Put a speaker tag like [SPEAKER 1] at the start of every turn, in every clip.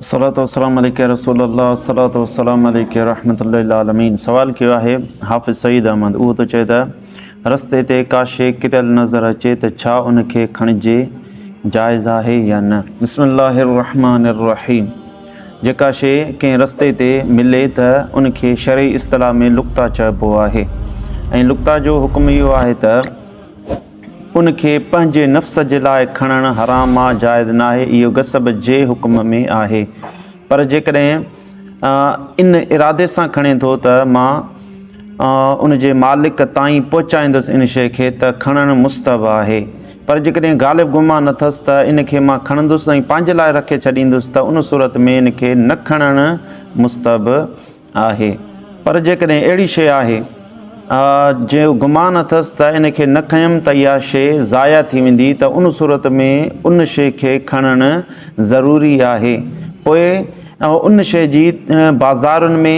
[SPEAKER 1] صلات والسلام عليڪ يا رسول الله صلات والسلام عليڪ يا رحمت الله العالمين سوال ڪيو آهي حافظ سعيد احمد اهو ٿو چئي ته رستي تي ڪا شيء ڪريل نظر اچي ته ڇا ان کي کڻجي جائز آهي يا نه بسم الله الرحمن الرحيم جيڪا شيء ڪنهن رستي تي ملي ته ان کي شرعي اصطلاح ۾ لقطه چئبو آهي ۽ لقطه جو حڪم اهو آهي ته ان کي پنهنجي نفس جي لاء کڻڻ حرام آ، جائز ناهي، اهو غصب جي حڪم ۾ آهي. پر جيڪڏهن ان ارادي سان کڻي ٿو ته مان ان جي مالڪ تائين پهچائيندس ان شيء کي ته کڻڻ مستحب آهي. پر جيڪڏهن غالب گمان اٿس ته ان کي مان کڻندس ۽ پنهنجي لاء رکي ڇڏيندس ته ان صورت ۾ ان کي نه کڻڻ مستحب آهي پر جيڪڏهن اهڙي شيء آهي جنهن جو گمان اٿس ته ان کي نه کنيم ته اها شيء ضايع ٿي ويندي ته ان صورت ۾ ان شيء کي کڻڻ ضروري آهي پوء ان شيء جي بازارن ۾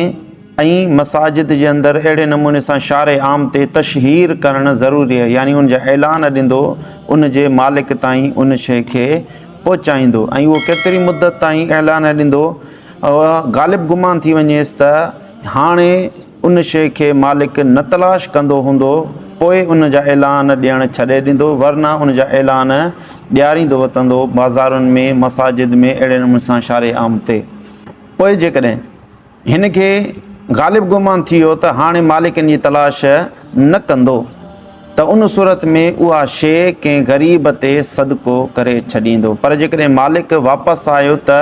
[SPEAKER 1] ۽ مساجد جي اندر اهڙي نموني سان شارع عام تي تشهير ڪرڻ ضروري آهي يعني ان جا اعلان ڏيندو ان جي مالڪ تائين ان شيء کي پهچائيندو ۽ اهو ڪيتري مدت تائين اعلان ڏيندو اها غالب گمان ٿي وڃيس ته هاڻي ان شيء کي مالڪ نه تلاش ڪندو هوندو، پوء ان جا اعلان ڏيڻ ڇڏي ڏيندو، ورنه ان جا اعلان ڏياريندو وتندو، بازارن ۾، مساجد ۾، اهڙي نموني سان شارع عام تي. پوء جيڪڏهن هن کي غالب گمان ٿي ويو ته هاڻي مالڪ ان جي تلاش نه ڪندو، ته ان صورت ۾ اها شيء ڪنهن غريب تي صدقو ڪري ڇڏيندو، پر جيڪڏهن مالڪ واپس آيو ته.